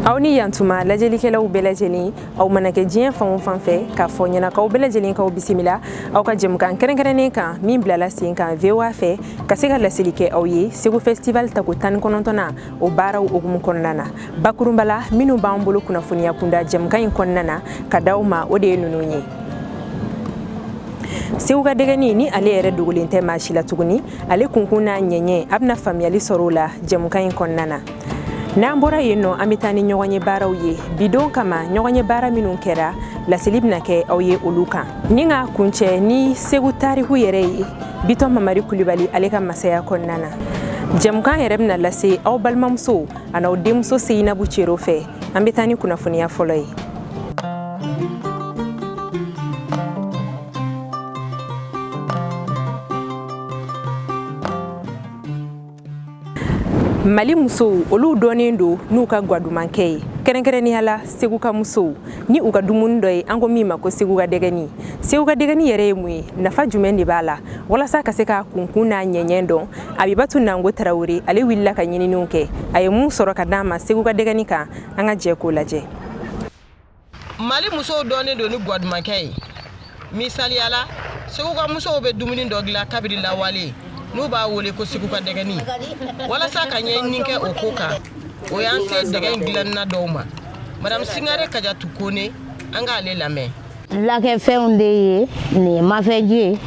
aw ni yantuma lajɛlikɛlaw bɛɛ lajɛlen aw mana kɛ diɲɛ fan o fan fɛ k'a fɔ ɲɛnakaw bɛɛ lajɛlen k'aw bisimila aw ka jɛmukan kɛrɛnkɛrɛnnen kan min bilala sen kan voa fɛ ka se ka laseli kɛ aw ye segu festival tako tan ni kɔnɔntɔnnan o baaraw hukumu kɔnɔna na bakurunba la minnu b'an bolo kunnafoniya kunda jɛmukan in kɔnɔna na ka d'aw ma o de ye ninnu ye segu ka dɛgɛni ni ale yɛrɛ dogolen tɛ maa si la tuguni ale kunkun n'a ɲɛɲɛ a bɛna faamuyali sɔrɔ o la jɛmukan in kɔnɔna na n'an bɔra yen nɔ an bɛ taa ni ɲɔgɔn ye baaraw ye bi don kama ɲɔgɔn ye baara minnu kɛra laseli bɛna kɛ aw ye olu kan ni ka kuncɛ ni segu tariku yɛrɛ ye bitɔn mamari kulibali ale ka masaya kɔnɔna na jɛmukan yɛrɛ bɛna lase aw balimamuso an'aw denmuso seyinabu cero fɛ an bɛ taa ni kunnafoniya fɔlɔ ye mali musow olu dɔnnen don n'u ka gwadumankɛ ye kɛrɛnkɛrɛnnenya la segu ka musow ni u ka dumuni dɔ ye an ko min ma ko segu ka dɛgɛni segu ka dɛgɛni yɛrɛ ye mun ye nafa jumɛn de b'a la walasa ka se k'a kunkun n'a ɲɛɲɛ dɔn abibatu nango tarawele ale wulila ka ɲininiw kɛ a ye mun sɔrɔ ka d'an ma segu ka dɛgɛni kan an ka jɛ k'o lajɛ mali musow dɔnnen don ni gwadumankɛ ye misaliya la segu ka musow bɛ dumuni dɔ dilan kabiri lawale n'u b'a wele ko segu ka dɛgɛni walasa ka ɲɛɲini kɛ o ko kan o y'an se dɛgɛ in dilanna dɔw ma madame singare kajatu kone an k'ale lamɛn lakɛfɛnw de ye nin ye mafɛji ye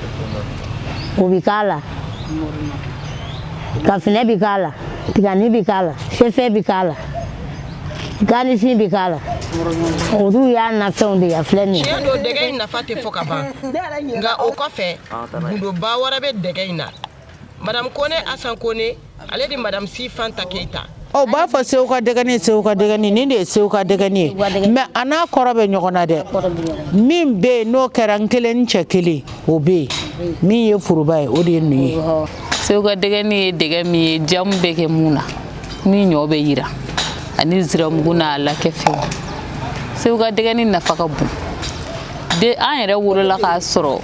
o bi k'a la kafinɛ bi k'a la tigani bi k'a la fɛfɛ bi k'a la ganifin bi k'a la olu y'a nafɛnw de ye a filɛ nin ye tiɲɛ don dɛgɛ in nafa tɛ fɔ ka ban nka o kɔfɛ gundoba wɛrɛ bɛ dɛgɛ in na madame kone asan kone ale de madame si fanta keyita ɔ u b'a fɔ sew ka dɛgɛni sew ka dɛgɛni nin de ye sew ka dɛgɛni ye mɛ a n'a kɔrɔ bɛ ɲɔgɔn na dɛ min bɛ yen n'o kɛra n kelen ni cɛ kelen o bɛ yen min ye foroba ye o de ye nin ye sew ka dɛgɛni ye dɛgɛ min ye jamu bɛ kɛ mun na ni ɲɔ bɛ yiran ani ziramugu n'a lakɛfɛnw segu ka dɛgɛni nafa ka bon dɛ an yɛrɛ wolola k'a sɔrɔ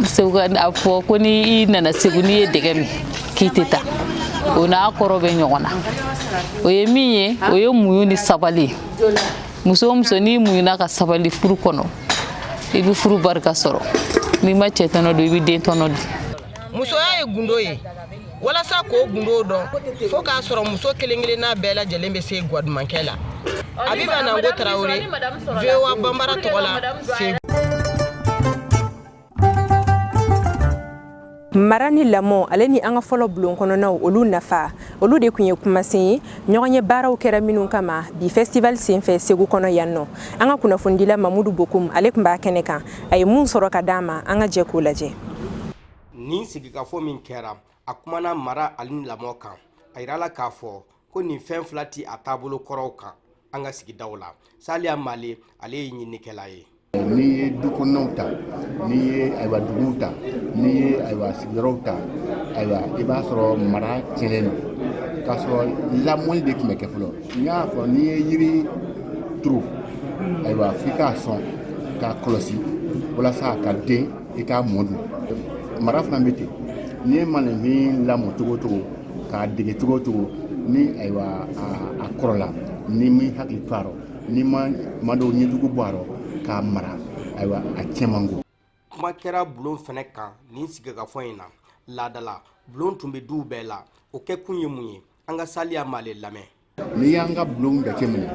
segu ka a fɔ ko ni i nana segu n'i ye dɛgɛ min k'i tɛ taa o n'a kɔrɔ bɛ ɲɔgɔn na o ye min ye o ye muɲu ni sabali ye muso o muso n'i muɲuna ka sabali furu kɔnɔ i bɛ furu barika sɔrɔ n'i ma cɛ tɔnɔ dun i bɛ den tɔnɔ dun musoya ye gundo ye walasa k'o gundo dɔn fo k'a sɔrɔ muso kelen kelenna bɛɛ lajɛlen bɛ se gwadumankɛ la abiba nango tarawele voa banbara tɔgɔ la segu mara ni lamɔ ale ni an ka fɔlɔ bulon kɔnɔnaw olu nafa olu de kun ye kumasen ye ɲɔgɔnye baaraw kɛra minnu kama bi festival senfɛ segu kɔnɔ yan nɔ an ka kunnafonidila mamudu bokum ale kun b'a kɛnɛ kan a ye mun sɔrɔ ka d'an ma an ka jɛ k'o lajɛ nin sigikafɔ min kɛra a kumana mara ale ni lamɔ kan a yirala k'a fɔ ko nin fɛn fila tɛ a taabolo kɔrɔw kan an ka sigidaw la saliya male ale ye ɲinikɛla ye n'i ye du kɔnɔnaw ta n'i ye ayiwa duguw ta n'i ye ayiwa sigiyɔrɔw ta ayiwa i b'a sɔrɔ mara tiɲɛnen don k'a sɔrɔ lamɔli de tun bɛ kɛ fɔlɔ n y'a fɔ n'i ye yiri turu ayiwa f'i k'a sɔn k'a kɔlɔsi walasa a ka den i k'a mɔ dun mara fana bɛ ten n'i ye maanifin lamɔ cogo o cogo k'a dege cogo o cogo ni ayiwa a kɔrɔla n'i m'i hakili to a rɔ n'i ma maa dɔw ɲɛjugu bɔ a rɔ k'a mara ayiwa a cɛn man go kuma kɛra bulon fɛnɛ kan nin sigikafɔ in na laadala bulon tun bɛ duw bɛɛ la o kɛkun ye mun ye an ka saliya male lamɛn n'i y'an ka bulon jateminɛ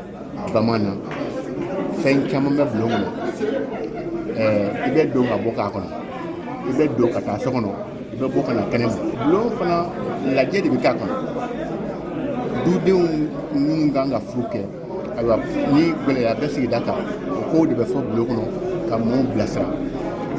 bamanan fɛn caman bɛ bulon kɔnɔ i bɛ don ka bɔ k'a kɔnɔ i bɛ don ka taa so kɔnɔ i bɛ bɔ ka na kɛnɛ ma bulon fana lajɛ de bɛ k'a kɔnɔ dudenw minnu kan ka furu kɛ ayiwa ni gɛlɛya bɛ sigida kan o kow de bɛ fɔ bulon kɔnɔ ka mɔɔw bilasira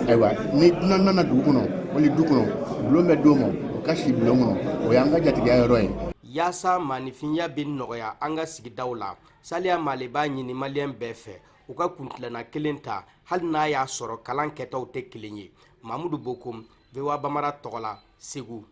ayiwa ni dunan nana dugu kɔnɔ wali du kɔnɔ bulon bɛ d'o ma o ka si bulon kɔnɔ o y'an ka jatigiya yɔrɔ ye yaasa maanifinya bɛ nɔgɔya an ka sigidaw la saliya male b'a ɲini maliyɛn bɛɛ fɛ u ka kuntilenna kelen ta hali n'a y'a sɔrɔ kalan kɛtaw tɛ kelen ye mamudu bokum voa banbara tɔgɔ la segu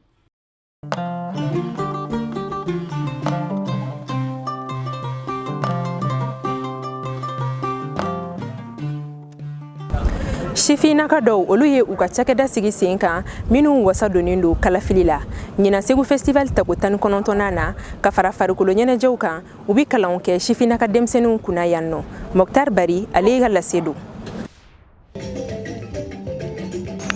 sifinnaka dɔw olu ye u ka cakɛda sigi sen kan minnu wasa donnen don kalafili la ɲinan segu festival tako tan ni kɔnɔntɔnnan na ka fara farikolo ɲɛnajɛw kan u be kalanw kɛ sifinnaka denmisɛninw kunna yan nɔ mɔktar bari ale ka lase don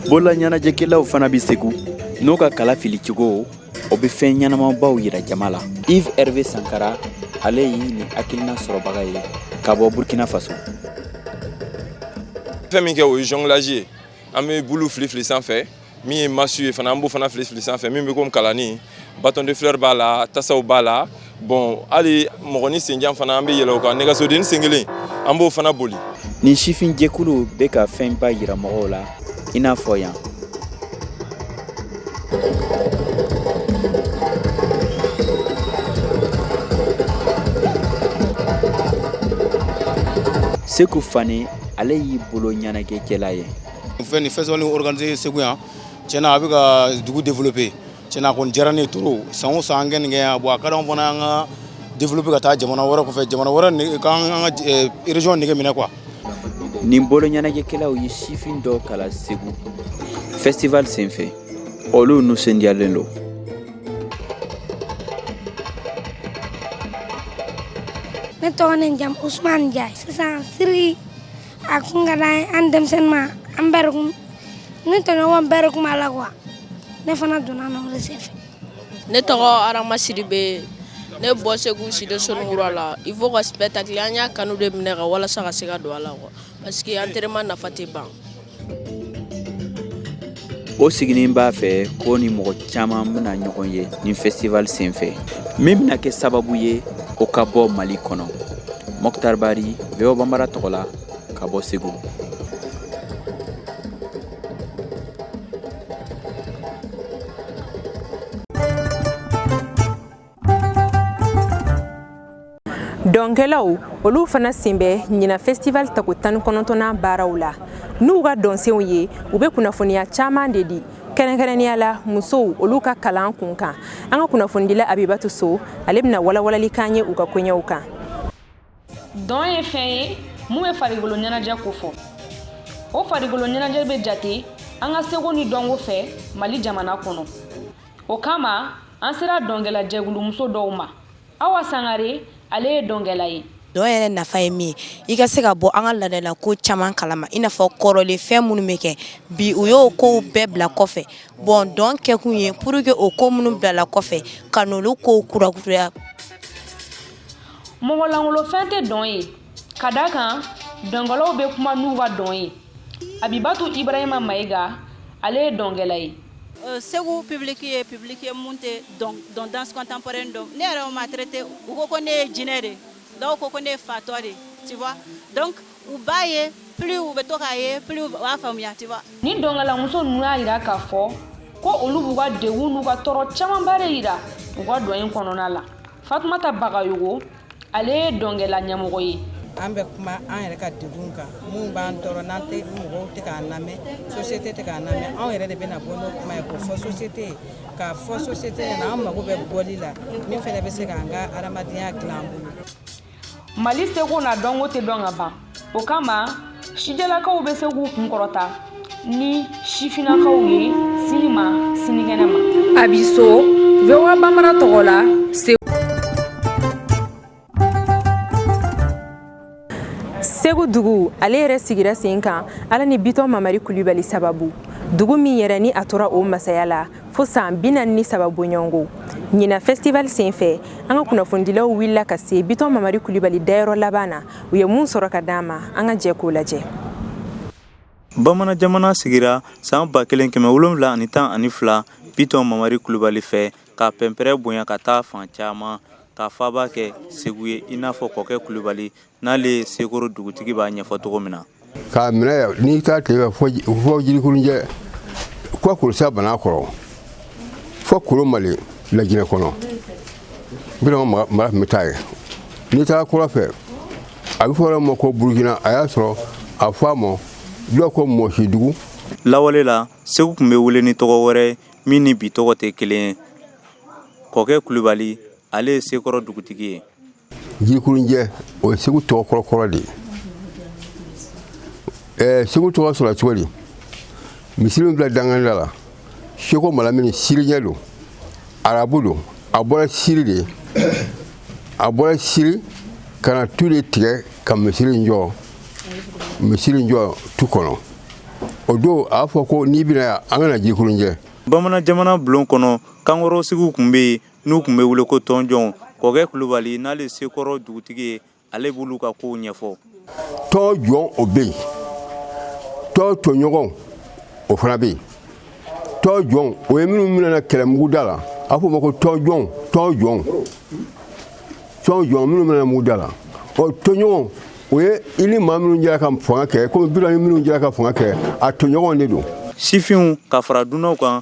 bolola ɲɛnajɛkɛlaw fana bɛ segu n'o ka kalafili cogo o bɛ fɛn ɲɛnamabaw yira jama la yves hervé sankara ale ye nin hakilina sɔrɔbaga ye ka bɔ burkina faso fɛn min kɛ o ye jonglage ye an bɛ bulu filifili sanfɛ min ye masu ye fana an b'o fana filifili sanfɛ min bɛ komi kalani bâton de fleur b'a la tasaw b'a la bon hali mɔgɔnin senjan fana an bɛ yɛlɛ o kan nɛgɛsodenni sen kelen an b'o fana boli nin sifin jɛkulu bɛ ka fɛnba yira mɔgɔw la i n'a fɔ yan seku fane ale ye boloɲɛnajɛkɛla ye fɛn nin festival organisé segu yan tiɲɛna a bɛ ka dugu développer tiɲɛna a kɔni diyara ne ye trop san o san an ka nin kɛ yan bon a ka d'anw fana an ka développer ka taa jamana wɛrɛ kɔfɛ jamana wɛrɛ k'an an ka eh, région nege minɛ quoi nin boloɲɛnajɛkɛlaw ye sifin dɔw kala segu festival senfɛ olu nisɔndiyalen don ne tɔgɔ ne jamu usman jay sisan cirque a kun ka d'an ye an denmisɛnnin ma an bɛɛ de kun ne tɔɲɔgɔn bɛɛ de kun b'a la quoi ne fana donna na o de senfɛ ne tɔgɔ arama sidibe ne bɔ segu sido soninkura la il faut ka spectacle an y'a kanu de minɛ ka walasa ka se ka don a la quoi parce que entraînement nafa tɛ ban o siginin b'a fɛ ko ni mɔgɔ caman bɛna ɲɔgɔn ye nin festival senfɛ min bɛna kɛ sababu ye o ka bɔ mali kɔnɔ mɔktar bari voa bambara tɔgɔ la ka bɔ segu dɔnkɛlaw olu fana sen bɛ ɲinan festival tako tan ni kɔnɔntɔnnan baaraw la n'u ka dɔnsenw ye u bɛ kunnafoniya caman de di kɛrɛnkɛrɛnnenya la musow olu ka kalan kun kan an ka kunnafonidila abibatu so ale bɛna walawalali k'an ye u ka koɲɛw kan dɔn ye fɛn ye min bɛ farikolo ɲɛnajɛ kofɔ o farikolo ɲɛnajɛ bɛ jate an ka seko ni dɔnko fɛ mali jamana kɔnɔ o kama an sera dɔnkɛla jɛkulu muso dɔw ma awa sangare ale ye dɔnkɛla ye dɔn yɛrɛ nafa ye min ye i ka se ka bɔ an ka laadala ko caman kalama i n'a fɔ kɔrɔlen fɛn minnu bɛ kɛ bi u y'o kow bɛɛ bila kɔfɛ bon dɔn kɛkun ye pour que o ko minnu bilala kɔfɛ ka n'olu kow kurakuraya mɔgɔ lankolon fɛn tɛ dɔn ye ka d'a kan dɔnkɛlaw bɛ kuma n'u ka dɔn ye abibatu ibrahima mayiga ale ye dɔnkɛla ye euh, segu public ye public ye min tɛ dɔn danse contemporaine dɔn ne yɛrɛ ma traité u ko ko ne ye jinɛ de dɔw ko ko ne ye fatɔ de tu vois donc U b'a ye plus u bɛ to k'a ye plus u b'a faamuya tu vois ni dɔnkɛlamuso ninnu y'a yira k'a fɔ ko olu b'u ka degun n'u ka tɔɔrɔ camanba de yira u ka dɔn in kɔnɔna la fatumata bagayogo ale ye dɔnkɛla ɲɛmɔgɔ ye an bɛ kuma an yɛrɛ ka degun kan min b'an tɔɔrɔ n'an tɛ mɔgɔw tɛ k'an lamɛn société tɛ k'an lamɛn anw yɛrɛ de bɛna bɔ n'o kuma ye k'o fɔ société ye k'a fɔ société ɲɛna an mago bɛ bɔli la min fana bɛ se k'an ka hadamadenya dilan an bolo mali seko n'a dɔnko tɛ dɔn ka ban o kama sijalakaw bɛ se k'u kunkɔrɔta ni sifinakaw ye sini ma sinikɛnɛ ma abi so voa bambara tɔgɔ la segu dugu ale yɛrɛ sigira sen kan ala ni bitɔn mamari kulibali sababu dugu min yɛrɛ ni a tora o masaya la fo san bi naani ni saba bɔɲɔgɔnko ɲina festival sen fɛ an ka kunnafonidilaw wulila ka se bitɔn mamari kulibali dayɔrɔ laban na u ye mun sɔrɔ ka d'an ma an ka jɛ k'o lajɛ bamanan jamana sigira san ba kelen kɛmɛ wolonwula ani tan ani fila bitɔn mamari kulibali fɛ k'a pɛnpɛrɛ bonya ka taa fan caman k'a faaba kɛ segu ye i n'a fɔ kɔkɛ kulibali n'ale ye sekɔrɔ dugutigi b'a ɲɛfɔ cogo min na k'a minɛ n'i taa tile fɛ fɔ jirikurunjɛ fɔ kulusa banan kɔrɔ fɔ kolo mali lajinɛ kɔnɔ bitɔn mara tun bɛ taa yen n'i taara kɔrɔn fɛ a bɛ fɔ a ma ko burukina a y'a sɔrɔ a fɔ a ma dɔw ko mɔsidugu lawale la segu tun bɛ wele ni tɔgɔ wɛrɛ min ni bi tɔgɔ tɛ kelen ye kɔkɛ kulubali ale ye sekɔrɔ dugutigi ye jirikurunjɛ o ye segu tɔgɔ kɔrɔkɔrɔ de ye ɛɛ segu tɔgɔ sɔrɔ cogo di misiri min bila dankannin da la seko malamini siriyɛn don arabu don a bɔra siri de a bɔra siri ka na tu de tigɛ ka misiri jɔ misiri jɔ tu kɔnɔ o don a y'a fɔ ko n'i bɛ na yan an ka na jirikurunjɛ bamanan jamana bulon kɔnɔ kankɔrɔsigiw tun bɛ yen n'u tun bɛ wele ko tɔnjɔn kɔkɛ kulubali n'ale sekɔrɔ dugutigi ye ale b'olu ka kow ɲɛfɔ tɔnjɔn o bɛ yen tɔn tɔɲɔgɔn o fana bɛ yen tɔnjɔn o ye minnu minɛna kɛlɛ mugu da la a f'o ma ko tɔnjɔn jɔn minnu minɛna mugu da la ɔ tɔɲɔgɔn o ye i ni maa minnu jɛra ka fanga kɛ komi bitɔn ni minnu jɛra ka fanga kɛ a tɔɲɔgɔn de don sifinw ka fara dunanw kan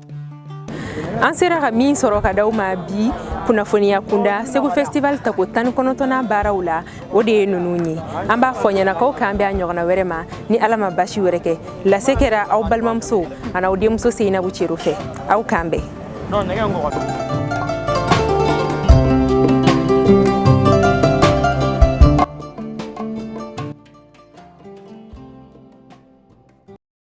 an sera ka min sɔrɔ ka d'aw ma bi kunnafoniya kunda segu festival tako tan ni kɔnɔntɔnnan baaraw la o de ye nunu ye an b'a fɔ yan na k'aw k'an bɛn a ɲɔgɔnna wɛrɛ ma ni ala ma basi wɛrɛ kɛ lase kɛra aw balimamuso an'aw denmuso seyinabu cero fɛ aw k'an bɛn